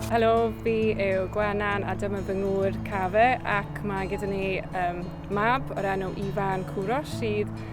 Helo, fi yw Gwenan a dyma fy ngŵr Cafe ac mae gyda ni um, mab o'r enw Ifan Cwros sydd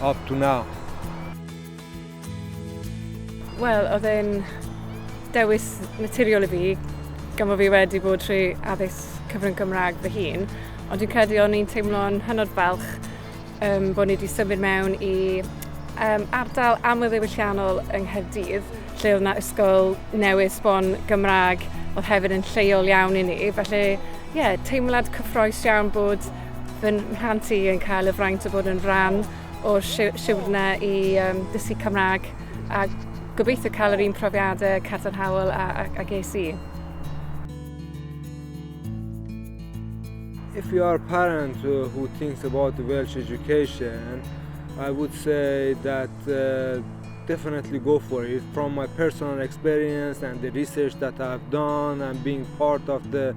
up to now? Wel, oedd e'n dewis naturiol i fi, gan fod fi wedi bod trwy addysg cyfrwng Gymraeg fy hun, ond dwi'n credu o'n i'n teimlo'n hynod falch um, bod ni wedi symud mewn i um, ardal amlddewylliannol yng Nghaerdydd, lle oedd yna ysgol newydd sbon Gymraeg oedd hefyd yn lleol iawn i ni. Felly, ie, yeah, teimlad cyffroes iawn bod Fy mhlant i yn cael y fraint o bod yn rhan o'r siwrne i um, dysgu Cymraeg a gobeithio cael yr un profiadau cadarnhaol a, a, a ges i. If you are a parent uh, who thinks about Welsh education, I would say that uh, definitely go for it. From my personal experience and the research that I've done and being part of the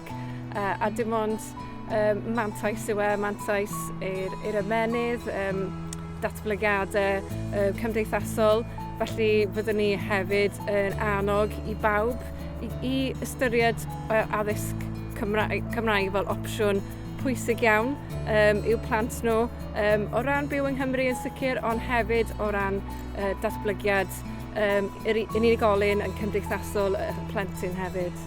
parc yy a dim ond yym mantais yw e mantais i'r i'r ymennydd yym datblygiade yy cymdeithasol felly fyddwn ni hefyd yn annog i bawb i i ystyried yy addysg Cymraeg Cymraeg fel opsiwn pwysig iawn yym i'w plant nhw yym o ran byw yng Nghymru yn sicr ond hefyd o ran yy datblygiad yym yr u- yn unigolyn yn cymdeithasol y plentyn hefyd.